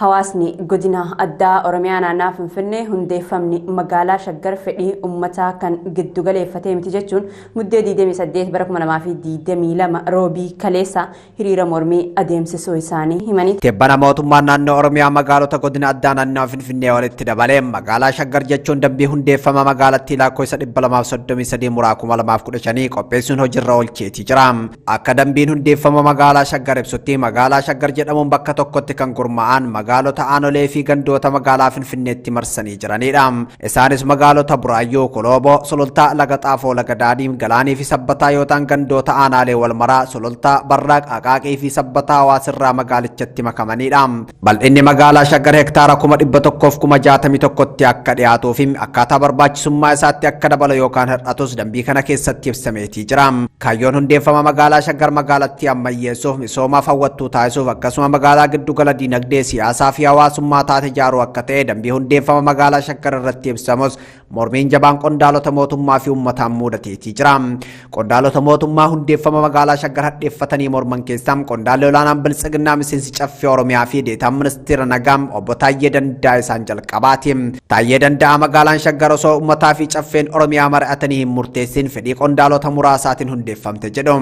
Hawaasni godina addaa Oromiyaa naannaa Finfinnee hundeeffamni magaalaa Shaggar fedhii ummataa kan giddu galeeffatee miti jechuun muddee 28 bara 2022 roobii kaleessa hiriira mormii adeemsisuu isaanii himanii Tibbana mootummaan naannoo Oromiyaa magaalota godina addaa naannawaa Finfinnee walitti dabalee magaalaa Shaggar jechuun dambii hundeeffama magaalattii lakkoofsa 233 muraa 2015 qopheessuun hojiirra oolcheetii jira. Akka dambiin hundeeffama magaalaa Shaggar ibsutti magaalaa Shaggar jedhamuun bakka tokkotti kan gurmaa'an magaalota aanolee fi gandoota magaalaa Finfinneetti marsanii jiranidha. Isaanis magaalota Buraayyuu, Kolooboo, Sulultaa, Laga Xaafoo, Laga Daadii, Galaanii fi Sabbataa yoo ta'an gandoota aanaalee Walmaraa, Sulultaa, Barraaq, Aqaaqii fi Sabbataa Hawaasirraa magaalichatti makamanidha. Bal'inni magaalaa Shaggar hektaara kuma 100 fi kuma 61tti akka dhiyaatuu fi akkaataa barbaachisummaa isaatti akka dabalu yookaan hir'atus dambii kana keessatti ibsameetii jira. Kaayyoon hundeeffama magaalaa Shaggar magaalattii ammayyeessuuf, misoomaaf hawwattuu taasisuuf akkasuma magaalaa giddu gala diinagdee, siyaasaa fi hawaasummaa taate ijaaruu akka ta'e dambii hundeeffama magaalaa Shaggar irratti ibsamus Mormiin jabaan qondaalota mootummaa fi uummataan muudateetii jira. Qondaalota mootummaa hundeeffama magaalaa Shaggar hadheeffatanii morman keessaa qondaalli olaanaan biltsiginnaa miseensi caffee Oromiyaa fi deetaan ministeera nagaa obbo Taayyee Danda'a isaan jalqabaati. Taayyee Danda'a magaalaan Shaggar osoo uummataa fi caffeen Oromiyaa mari'atanii hin murteessin fedhii qondaalota muraasaatiin hundeeffamte jedhu.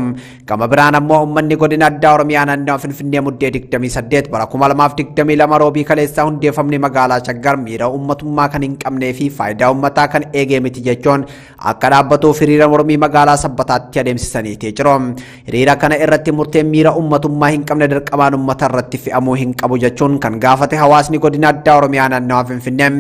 Gama biraan ammoo uummanni godina addaa Oromiyaa naannawa Finfinnee Muddee 28 bara 2022 roobii kaleessaa hundeeffamni magaalaa Shaggar miira uummatummaa kan hin qabnee fi faayidaa uummataa kan eegee miti jechuun akka dhaabbatuuf hiriira mormii magaalaa Sabbataatti adeemsisaniitii jiru. Hiriira kana irratti murteen miira uummatummaa hin qabne dirqamaan uummata irratti fe'amuu hin qabu jechuun kan gaafate hawaasni godina addaa Oromiyaa naannawa Finfinnee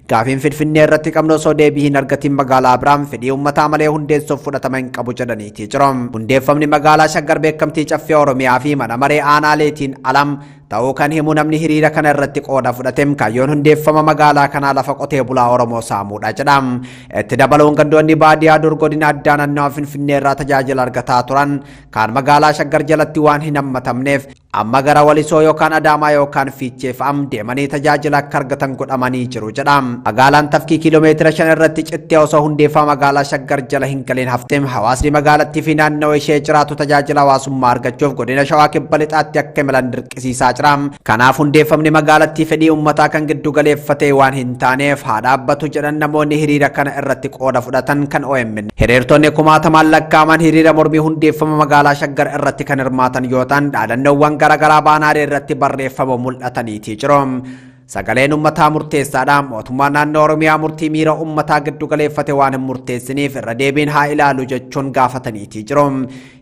Gaafiin Finfinnee irratti qabnu osoo deebii hin argatiin magaalaa biraan fedhii uummataa malee hundeessuuf fudhatama hin qabu jedhaniitii jiru. Hundeeffamni magaalaa Shaggar beekamtii caffee Oromiyaa fi mana maree aanaaleetiin alam ta'uu kan himu namni hiriira kana irratti qooda fudhate kaayyoon hundeeffama magaalaa kanaa lafa qotee bulaa Oromoo saamuudha jedha. Itti dabaluun gandoonni baadiyaa dur godina addaa naannawa Finfinnee irraa tajaajila argataa turan kaan magaalaa Shaggar jalatti waan hin hammatamneef Amma gara Walisoo yookaan Adaamaa yookaan Fiichee fa'a deemanii tajaajila akka argatan godhamanii jiru jedha. Magaalaan tafkii kiiloomeetira shan irratti cittee osoo hundeeffama magaalaa Shaggar jala hin galiin hafte hawaasni magaalattii fi naannawa ishee jiraatu tajaajila hawaasummaa argachuuf godina Shawaa Kibba Lixaatti akka imalan dirqisiisaa jira. Kanaaf hundeeffamni magaalattii fedhii uummataa kan giddu galeeffatee waan hin taaneef haa dhaabbatu jedhan namoonni hiriira kana irratti qooda fudhatan kan OMN Hiriirtonni kumaatamaan lakkaa'aman hiriira mormii hundeeffama magaalaa Shaggar irratti kan hirmaatan yoo ta'an dhaadannoowwan garaagaraa baanaalee irratti barreeffama mul'ataniitii jiru. Sagaleen ummataa murteessaadha. Mootummaan naannoo Oromiyaa murtii miira ummataa giddu galeeffate waan hin murteessiniif irra deebiin haa ilaalu jechuun gaafataniitii jiru.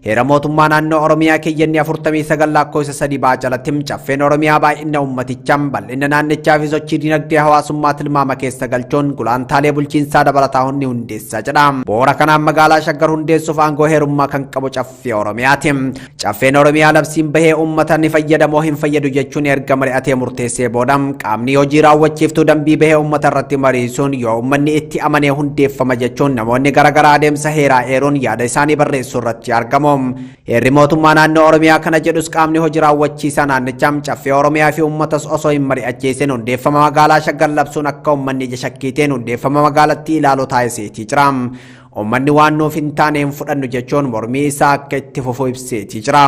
Heera mootummaa naannoo Oromiyaa keeyyanni 49 lakkoofsa 3 baa jalatti caffeen Oromiyaa baay'ina uummatichaa, bal'ina naannichaa fi sochii dinagdee hawaasummaa tilmaama keessa galchuun gulaantaalee bulchiinsaa dabalataa hunni hundeessaa jedha. Bu'uura kanaan magaalaa Shaggar hundeessuuf aangoo heerummaa kan qabu caffee Oromiyaati. Caffeen Oromiyaa labsiin bahee uummata ni fayyada moo hin fayyadu jechuun erga mari'atee murteessee booda Qaamni hojii raawwachiiftuu dambii bahee uummata irratti mariisuun yoo uummanni itti amanee hundeeffama jechuun namoonni garaagaraa adeemsa heeraa eeruun yaada isaanii barreessuu irratti argamu. Heerri mootummaa naannoo Oromiyaa kana jedhus qaamni hojii raawwachiisaa naannichaa caffee Oromiyaa fi uummatas osoo hin mari'achiisin hundeeffama magaalaa shaggar labsuun akka uummanni ija shakkiitiin hundeeffama magaalattii ilaalu taasiseetii jira. Uummanni waan nuuf hin taane hin fudhannu jechuun mormii isaa akka itti fufu ibseetii jira.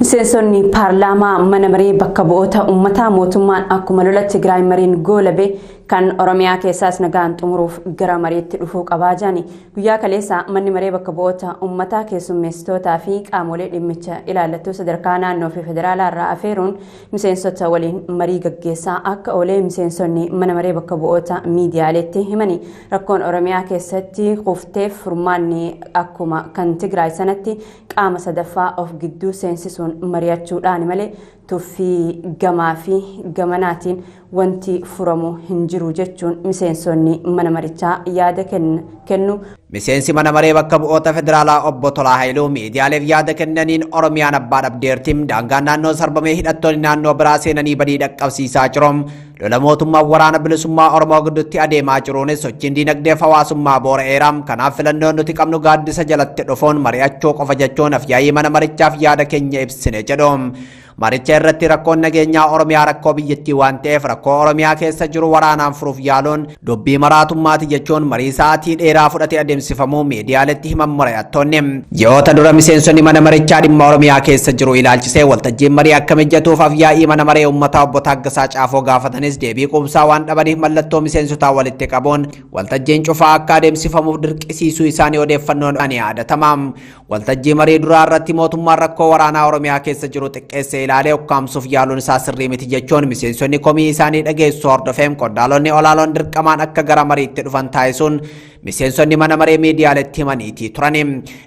Miseensonni paarlaamaa mana maree bakka bu'oota uummataa mootummaan akkuma lola Tigraay mariin goolabe kan Oromiyaa keessaas nagaan xumuruuf gara mariitti dhufuu qabaa jedhani guyyaa kaleessa manni maree bakka bu'oota uummataa keessummeessitootaa fi qaamolee dhimmicha ilaallattuu sadarkaa naannoo fi federaalaa irraa afeeruun miseensota waliin marii gaggeessaa akka oolee miseensonni mana maree bakka bu'oota miidiyaaleetti himani rakkoon Oromiyaa keessatti kufteef furmaanni akkuma kan Tigraay sanatti qaama sadaffaa of gidduu seensisuun mari'achuudhaan malee tuffii gamaa fi gamanaatiin wanti furamu hin jiru jechuun miseensonni mana marichaa yaada kennu. Miseensi mana maree bakka bu'oota federaalaa obbo Tolaa Hayiluu miidiyaaleef yaada kennaniin Oromiyaan abbaa dhabdeerti daangaan naannoo sarbamee hidhattoonni naannoo biraa seenanii badii dhaqqabsiisaa jiru. Lola mootummaan waraana bilisummaa Oromoo gidduutti adeemaa jiruunis sochiin diinagdee fi hawaasummaa boora'eera. Kanaaf filannoon nuti qabnu gaaddisa jalatti dhufuun mari'achuu qofa jechuun afyaa'ii mana marichaaf yaada keenya ibsine jedhu. Maricha irratti rakkoon nageenyaa Oromiyaa rakkoo biyyattii waan ta'eef rakkoo Oromiyaa keessa jiru waraanaan furuuf yaaluun Dubbii maraatummaati jechuun marii sa'aatii dheeraa fudhate adeemsifamuu miidiyaaletti himan mari'attoonni. Ji'oota dura miseensonni mana marichaa dhimma Oromiyaa keessa jiru ilaalchisee waltajjiin marii akka mijatuuf afyaa'ii mana maree uummataa obbo Taaggasaa Caafoo gaafatanis deebii quubsaa waan dhabaniif mallattoo miseensotaa walitti qabuun waltajjiin cufaa akka adeemsifamuuf dirqisiisuu isaanii odeeffannoon ni yaadatama. Waltajjii marii duraa irratti mootummaan rakkoo waraanaa Oromiyaa keessa jiru xiqqeessee ilaalee ukkaamsuuf yaaluun isaa sirrii miti jechuun miseensonni komii isaanii dhageessu hordofeem qondaalonni olaaloon dirqamaan akka gara mariitti dhufan taasisuun miseensonni mana maree miidiyaaletti himaniitii turani.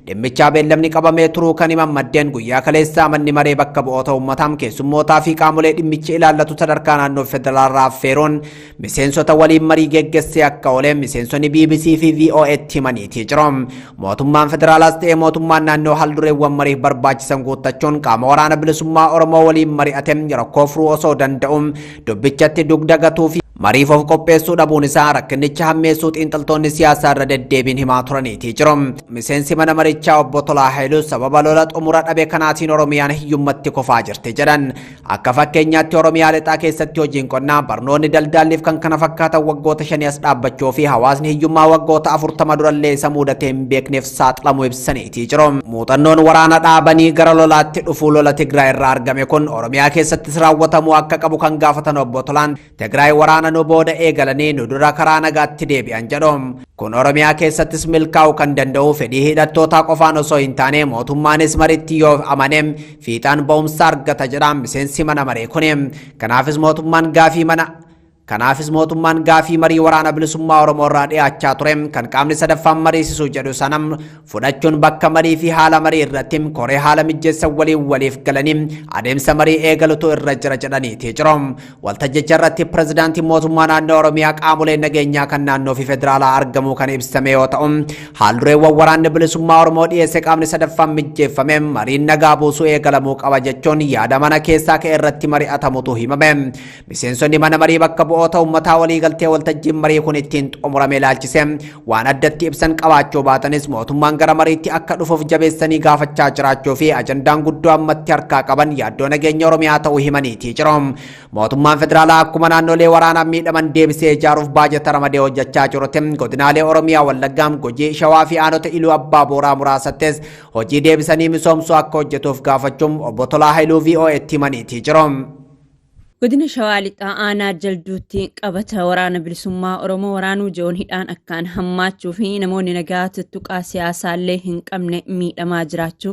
Dhimmichaa beellamni qabamee turuu kan himan maddeen guyyaa kaleessaa manni maree bakka bu'oota uummataa keessummootaa fi qaamolee dhimmichi ilaallatu sadarkaa naannoo federaalaa affeeruun Miseensota waliin marii geggessee akka oole miseensonni BBC fi VOA'tti himaniitii jiru. Mootummaan federaalaas ta'ee mootummaan naannoo haaldureewwan mariif barbaachisan guuttachuun qaama waraana bilisummaa Oromoo waliin mari'ate rakkoo furuu osoo danda'u dubbichatti dugda gatuu fi mariif of qopheessuu dhabuun isaa rakkinicha hammeessuu xiinxaltoonni siyaasaa irra deddeebiin himaa turaniitii jiru. Miseensi mana marichaa obbo Tolaa Hayiluus sababa lola xumura dhabe kanaatiin Oromiyaan hiyyummatti kufaa jirti jedhan. Akka fakkeenyaatti Oromiyaa lixaa keessatti hojiin qonnaa, barnoonni, daldaalliif kan kana fakkaatan waggoota shanii as dhaabbachuu fi hawaasni hiyyummaa waggoota afurtama durallee isa muudatee hin beekneef saaxilamuu ibsaniitii jiru. Muuxannoon waraana dhaabanii gara lolaatti dhufuu lola Tigraay irraa argame kun Oromiyaa keessattis raawwatamuu akka qabu kan gaafatan obbo Tolaan Tigraay waraana nu booda eegalanii nu dura karaa nagaatti deebi'an jedhu. Kun Oromiyaa keessattis milkaa'uu kan danda'u fedhii hidhattootaa qofaan osoo hin taane mootummaanis maritti yoo amane fiixaan ba'umsa argata jedha miseensi mana maree kuni. Kanaafis mootummaan gaafii mana Kanaafis mootummaan gaafii marii waraana bilisummaa Oromoo irraa dhiyaachaa ture kan qaamni sadaffaan mariisisuu jedhu sana fudhachuun bakka marii fi haala marii irratti koree haala mijjeessan waliin waliif galanii adeemsa marii eegalutu irra jira jedhaniiti jiru. Waltajjicha irratti pirezidaantiin mootummaa naannoo Oromiyaa qaamolee nageenyaa kan naannoo fi federaalaa argamuu kan ibsame yoo ta'u, haaldureewwan waraanni bilisummaa Oromoo dhiyeesse qaamni sadaffaan mijjeeffame mariin nagaa buusuu eegalamuu qaba jechuun yaada mana keessaa ka'e irratti mari'atamutu himame. Miseensonni mana marii bakka bu'oota ummataa waliigaltee waltajjiin marii kun ittiin xumurame ilaalchise waan addatti ibsan qabaachuu baatanis mootummaan gara mariitti akka dhufuuf jabeessanii gaafachaa jiraachuu fi ajandaan guddoo ammatti harkaa qaban yaaddoo nageenya Oromiyaa ta'uu himaniitii jiru. Mootummaan federaalaa akkuma naannolee waraanaan miidhaman deebisee ijaaruuf baajata ramadee hojjechaa jirutti godinaalee Oromiyaa Wallaggaam Gujii Shawaa fi aanota Iluu Abbaa Booraa muraasattis hojii deebisanii misoomsuu akka hojjetuuf gaafachuun obbo Tolaa Hailuu VOA'tti himaniitii jiru. Godina Shawaa Lixaa Aanaa Jalduutti qabata waraana bilisummaa Oromoo waraanuu jiruun hidhaan akkaan hammaachuu fi namoonni nagaa tuttuqaa siyaasaallee hin qabne miidhamaa jiraachuu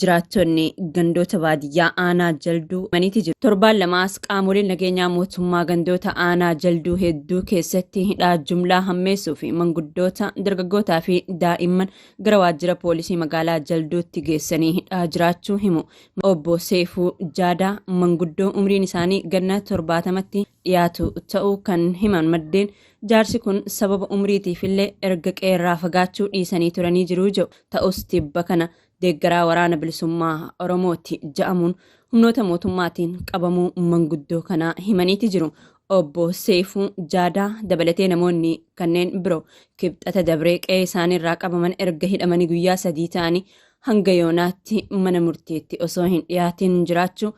jiraattonni gandoota baadiyyaa Aanaa Jalduu maniiti jiru. Torbaan lamaas qaamoleen nageenyaa mootummaa gandoota Aanaa Jalduu hedduu keessatti hidhaa jumlaa hammeessuu fi manguddoota dargaggootaa fi daa'imman gara waajjira poolisii magaalaa Jalduutti geessanii hidhaa jiraachuu himu Obbo Seeyfuu Jaadaa manguddoo umriin isaanii ganna 70tti dhiyaatu ta'uu kan himan maddeen, jaarsi kun sababa umriitiifillee erga qe'eerraa fagaachuu dhiisanii turanii jiru jedhu. Ta'us tibba kana deeggaraa Waraana Bilisummaa Oromooti ja'amuun humnoota mootummaatiin qabamuu manguddoo kanaa himaniiti jiru. Obbo Seeyfuu Jaadaa dabalatee namoonni kanneen biroo Kibxata dabree qe'ee isaaniirraa qabaman erga hidhamanii guyyaa sadii ta'anii hanga yoonaatti mana murtiitti osoo hin dhiyaatiin jiraachuu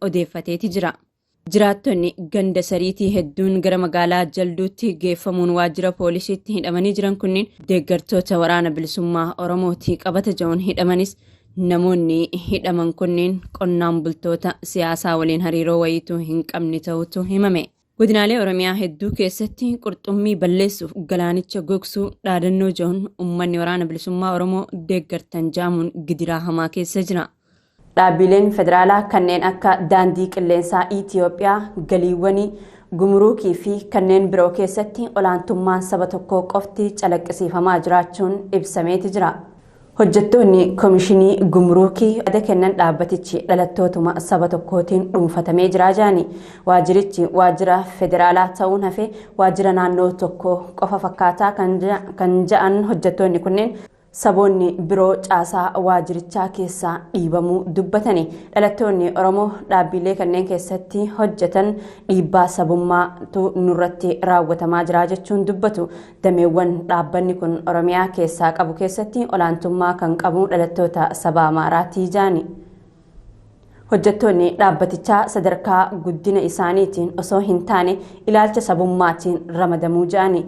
odeeffateeti jira. Jiraattonni ganda sariitii hedduun gara magaalaa jalduutti geeffamuun waajjira poolisiitti hidhamanii jiran kunniin deeggartoota waraana bilisummaa Oromootii qabata ja'uun hidhamanis namoonni hidhaman kunniin qonnaan bultoota siyaasaa waliin hariiroo wayiituu hin qabne ta'utu himame. Godinaalee Oromiyaa hedduu keessatti qurxummii balleessuuf galaanicha gogsuu dhaadannoo ja'uun uummanni waraana bilisummaa Oromoo deeggartan jaamuun gidiraa hamaa keessa jira. Dhaabbiileen federaalaa kanneen akka daandii qilleensaa Itiyoophiyaa galiiwwanii, gumuruukii fi kanneen biroo keessatti olaantummaan saba tokkoo qofti calaqqisiifamaa jiraachuun ibsameeti jira. Hojjettoonni Komishinii Gumuruukii yaada kennan dhaabbatichi dhalattootuma saba tokkootiin dhuunfatamee jira jedhani. Waajjirichi waajjira federaalaa ta'uun hafee waajjira naannoo tokko qofa fakkaataa kan jedhan hojjettoonni kunneen saboonni biroo caasaa waajjirichaa keessaa dhiibamuu dubbatani. Dhalattoonni Oromoo dhaabbiilee kanneen keessatti hojjetan dhiibbaa sabummaatu nurratti raawwatamaa jira jechuun dubbatu. Dameewwan dhaabbanni kun Oromiyaa keessaa qabu keessatti olaantummaa kan qabu dhalattoota saba Amaaraati jaani. Hojjettoonni dhaabbatichaa sadarkaa guddina isaaniitiin osoo hin taane ilaalcha sabummaatiin ramadamuu jaani.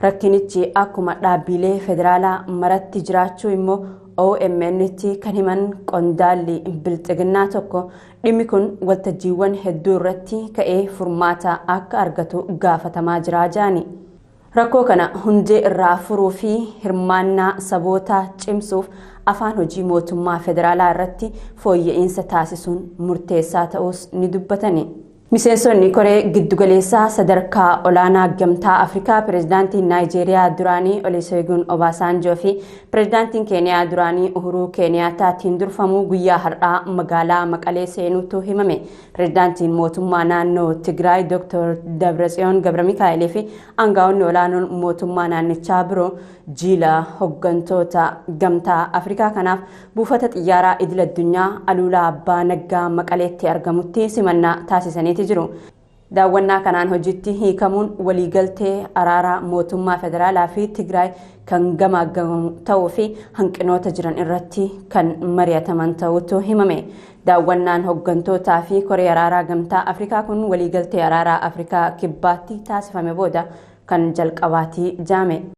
Rakkinichi akkuma dhaabbiilee federaalaa maratti jiraachuu immoo OMN'tti kan himan qondaalli bilxiginnaa tokko Dhimmi kun waltajjiiwwan hedduu irratti ka'ee furmaata akka argatu gaafatamaa jiraa jedhani. Rakkoo kana hundee irraa furuu fi hirmaannaa sabootaa cimsuuf afaan hojii mootummaa federaalaa irratti fooyya'iinsa taasisuun murteessaa ta'uus ni dubbatani. Miseensonni koree giddugaleessaa sadarkaa olaanaa gamtaa Afrikaa pireezidaantiin Naayijeeriyaa duraanii Oliseeguun Obaasaanjoo fi Pireezidaantiin Keeniyaa duraanii Uhuruu Keeniyaataatiin durfamu guyyaa har'aa magaalaa Maqalee seenuutu himame. Pireezidaantiin mootummaa naannoo Tigraay Dr. Dabratsiyoon Gabramikaa'elii fi aangaa'onni olaanoon mootummaa naannichaa biroo jiila hoggantoota gamtaa Afrikaa kanaaf buufata xiyyaaraa idil addunyaa Aluulaa Abbaa Naggaa Maqaleetti argamutti simannaa taasisaniiti jiru. Daawwannaa kanaan hojiitti hiikamuun waliigaltee araaraa mootummaa federaalaa fi Tigraay kan gamaaggamu ta'uu fi hanqinoota jiran irratti kan mari'ataman ta'uutu himame. Daawwannaan hoggantootaa fi koree araaraa gamtaa Afrikaa kun waliigaltee araaraa Afrikaa kibbaatti taasifame booda kan jalqabaati jaame.